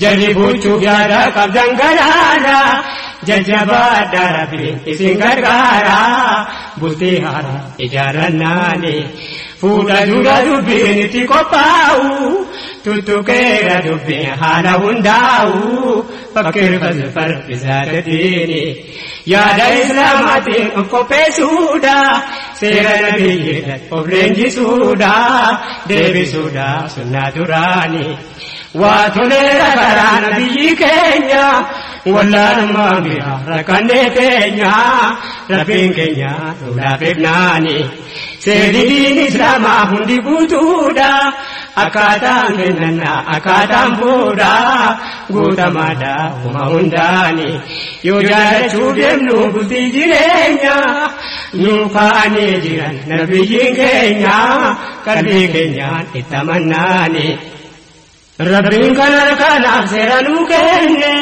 Jalli buuchuuf yaada qabdan garaara jajjabaadha rabbiin isin gargaara bultii haaraa ijaarrannaani fuudha dura dubbiin itti qophaa'u tuttuqeera dubbiin haala hundaa'u fakkeeffas farfisaa gadiini yaada islaamaatiin of qopheessuudha seera nabiyyiidhaan of leenjisuudha deebisuudha sunnaa duraanii. Waa toleera karaa nabiyyi keenya wallaalummaa mi'a rakkannee teenya rabbiin keenya lolaa beeknaani seerri diin islaamaa hundi guutuudha akkaataan kennannaa akkaataan fuudha guutamaadha uma hundaani yoo jaalachuu deemnu bultii jireenya nuu kaa'anii jiran nabiyyiin keenya qalbii keenyaan itti amannaani rabbiin kan harkaanaaf seera nuu kenne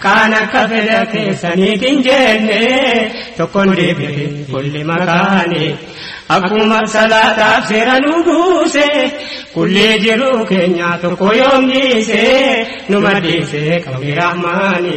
kaan akka fedha keessaniit hin jenne tokkon deebi'e kulli makaani akkuma salaataaf seera nuu buuse kulli jiruu keenyaa tokko yoom dhiise nu madhiise qabni rahmaani.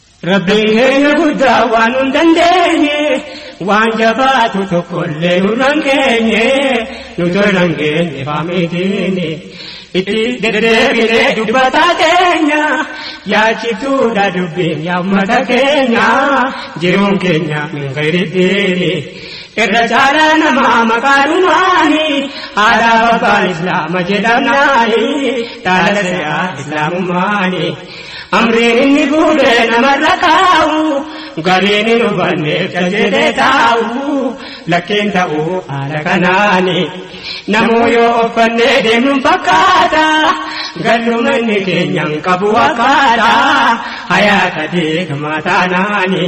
Rabbiin keenya guddaa waan nun dandeenye waan jabaatu tokkollee nurraan geenye nu tollan geenye faamiitiini itti deddeebinee dubbataa keenya yaachiftuudha dubbiin yaa ummata keenya jiruun keenya min gayriddiini irra caalaa namaa maqaanumaani aadaa babbaan islaama jedhamnaani dhaala se'aa islaamummaani. Amriin inni fuudhe namarra kaa'u gariin hin hubanneef tajaajiltee taa'u lakkeen ta'u haala kanaani namuu yoo uffannee deemuun fakkaata galluma inni keenyaan qabu wakaadha hayaata deegamaa taanaani.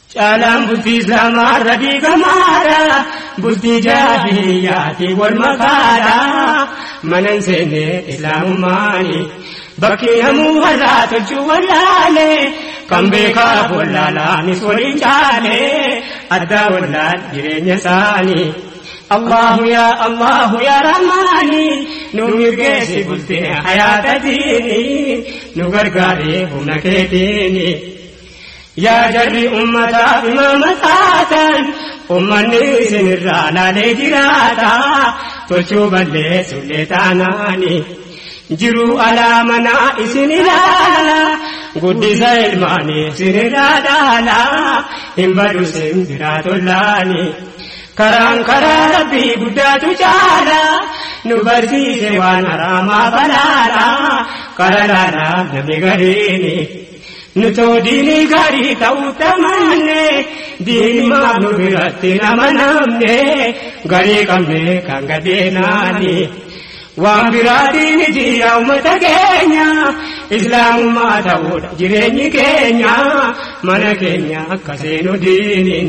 Caalaan bultii Islaamaa irra diigamaadha. Bultii jaahiliyyaatiin wal makaadha. Mana hin seenne Islaamummaani. Bakki namuu har'aa tolchuu wallaale. Kan beekaaf wallaalaanis waliin caale. Addaa wallaal jireenya isaanii. Allahu yaa Allahu yaa Rahmaani. Nu mirgeessi bultee hayaata diini. Nu gargaaree humna keetiini. Yaa jarri ummataaf imaama taatan ummanni isinirraa laalee jiraata tolchuu balleessullee taanaani jiruu alaa manaa isin ilaala guddisa ilmaanii isinirraa dhaala hin badu sin biraa tollaani karaan karaa rabbii guddaatu caala nu barsiise waan haraamaa balaala qararaadhaa namni gariini. Nutoo diinii gaarii ta'uu tamanne diinimaaf nu biratti nama namne garii qabne kan gadeenaani waan biraatiin jiyaa uummata keenya islaamummaa ta'uudha jireenyi keenya mana keenya akka seenu diiniin.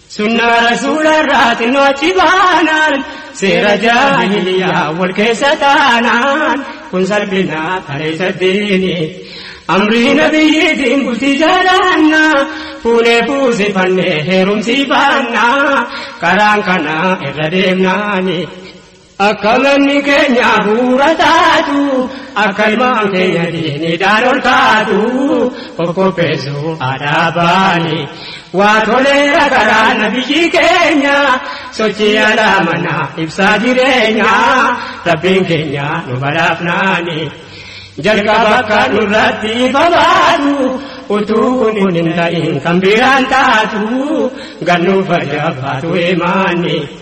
Sunnaa rasuularraa xinnoo achi baanaan seera jaahiliyaa wal keessa taanaan kun salphinaa tareessa diini. Amrii nabiyyiitiin bultii jaalaanna fuunee fuusifannee heerumsii baanna karaan kana irra deemnaani. Akka manni keenya hafuura taatu, akka ilmaan keenya diinidhaan ol kaatu, of qopheessuu aadaa baane. Waa toleera karaa nabiyyii keenya, sochii alaa manaa ibsaa jireenya, rabbiin keenya nu badhaafnaani. Jalqaba akka nurratti ifa baatu, utuu kun kun hin ta'in kan biraan taatu, gannuuf fayyaa baatu imaanni.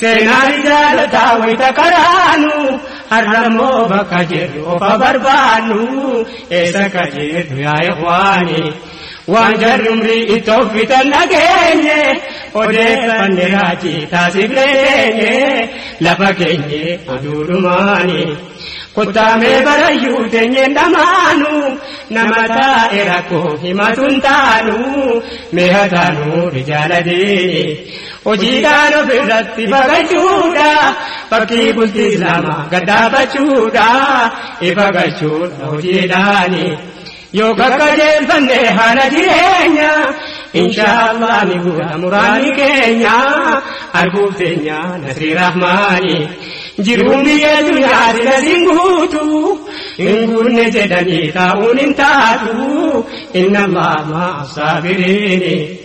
Seenaari jaalataa wayita qaraanu har'ammoo bakka jirru ofa barbaannu eessa akka jirru yaa ikhwaani waan jarri umrii itti offitan dhageenye odeeffanne raajii taasifne teenye lafa keenye oduu dhumaani kuttaamee barayyuu teenyeen dhamaanu nama taa'e rakkoo himatuun taanu mee hataanu rijaala diini. Hojiidhaan ofirratti baqachuudha. Fakkii bultii Islaamaa gad dhaabbachuudha. Ifa galchuudha hojiidhaani. Yoo qaqqajeelfanne haala jireenya. Inshaallah ni guuta muraanni keenya. Arguuf teenya nasrii rahmaani. Jiruun biyya duniyaa sila sin guutu. Hin guunne jedhanii taa'uun hin taatu. Inna Allaah ma'a saabiriini.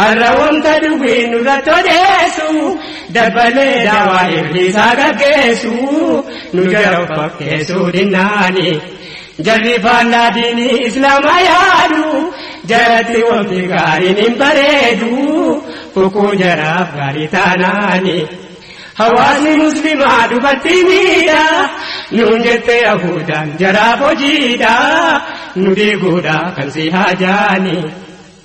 Har'a wanta dubbiin nurratti odeessu dabbalee daawaa ibliisaa gaggeessu nu jala of fakkeessuu dinnaani. Jarri faallaa diinii islaamaa yaadu jaratti wanti gaariin hin bareedu fukuu jaraaf gaarii taanaani. Hawaasni muslimaa dubartii miidha nuun jettee yahuudaan jaraaf hojiidha nu diiguudha kan si haajaani.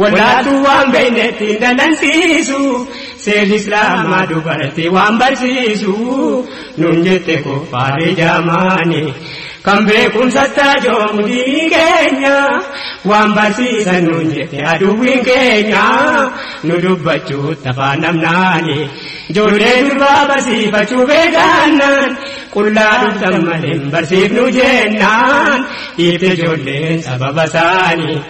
Wallaaltuu waan beeynetti hin dallansiisu seerri islaamaa dubartii waan barsiisu nun jette kuffaarri jaamaani kan beekumsa taajoomu diinii keenya waan barsiisan nun jette aduwwiin keenya nu dubbachuu tafaan namnaani ijoollee durbaa barsiifachuu beekaannaan qullaa dhuftan malee hin barsiifnu jennaan dhiibte ijoolleen sababa isaanii.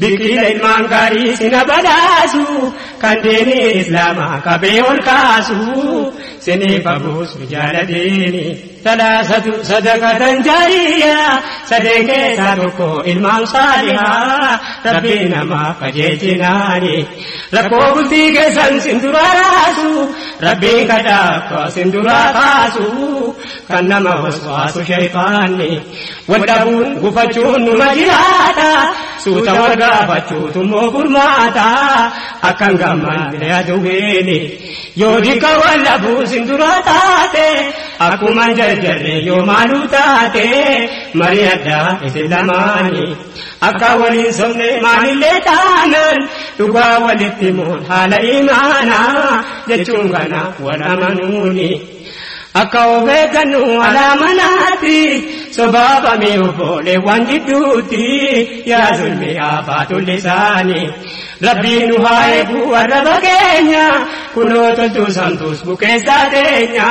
Biqila ilmaan gaarii sina badhaasu kan deeni islaama qabee ol kaasu siniif abuusu jaala deeni talaasatu sadaqatan jaariya sadeen keessaa tokko ilmaan saaliha rabbii namaa qajeelchinaani rakkoo bultii keessan sin duraa raasu rabbiin kadhaa akka sin duraa kaasu kan nama waswaasu shayxaanni Wal dhabuun gufachuun numa jiraata suuta wal gaafachuutu immoo furmaata akkan gammanne aduweeni yoo dika wal dhabuu sin dura taate akkuma jarjarre yoo maaluu taate marii addaa isin lamaani akka waliin somne maalillee taanan dhugaa walitti moon haala imaana jechuun kana wal amanuuni. Akka of eeggannu alaa manaatti sobaabame obboleewwan gidduutti yaa zulmi afaa tullisaani. Rabbii nu haa eegu arraba keenya kunoo toltuu samtuus bukeessaa teenya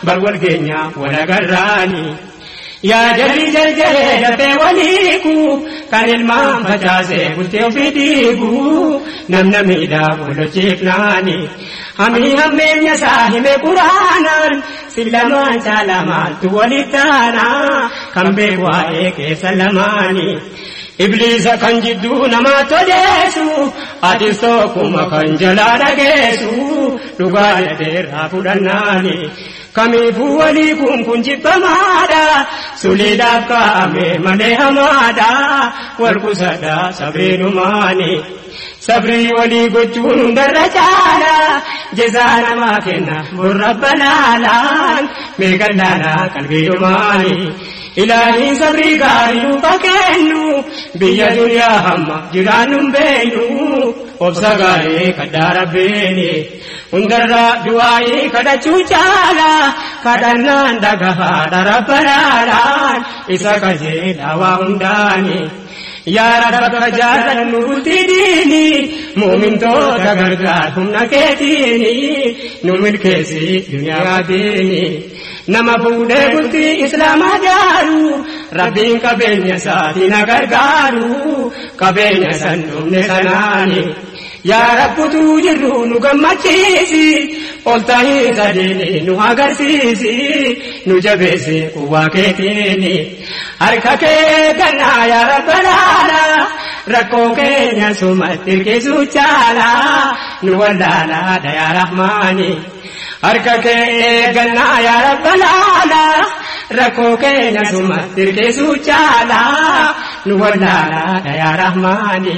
bar wal keenya wal agarraani. Yaa jarri jarjaree dafee waliiku kan ilmaan facaasee bultee ofii diigu namna miidhaa walochiifnaani hamii hammeenya isaa hime quraanaan sin lamaan caalaa maaltu waliif taana kan beeku waa'ee keessa lamaani. Ibliisa kan jidduu namaa todeessu atis tokkuma kan jalaa dhageessu dhugaa dhabeerraa fudhannaani. Kamiifuu walii kun kun jibbamaadha. Suliidhaaf kaa'ame malee hamaadha. Wal qusadha sabriinumaani. Sabrii walii gochuun hundarra caala. Jezaa namaa kenna burra banaalaan. Meeqan laala qalbiinumaani. Ilaahiin sabrii gaarii nuuf kennu. Biyya duniyaa hamma jiraannu hin beeknu. Obsa gaarii kadhaa rabbiini. Hundarra du'aa'ii kadhachuu caala kadhannaan dhagahaadha rabba laalaan isa qajeelaa waa hundaani. Yaa rabba akka jaallannu bultii diini mu'mintoota gargaar humna keetiini nu milkeessi duniyaa diini. Nama fuudhee bultii islaamaa jaaru rabbiin qabeenya isaatiin gargaaru qabeenya san dhumne sanaani. Yaa Rabbi utuu jirruu nu gammachiisi, ol ta'ii sadiini nu agarsiisi, nu jabeessi quwwaa keetiini. Harka kee gannaa yaa Rabba laala, rakkoo keenya sumatti hirkisuu caala, nu wallaala haadha yaa Rahmaani. Harka kee gannaa yaa Rabba laala, rakkoo keenya sumatti hirkisuu caala, nu wallaala haadha yaa Rahmaani.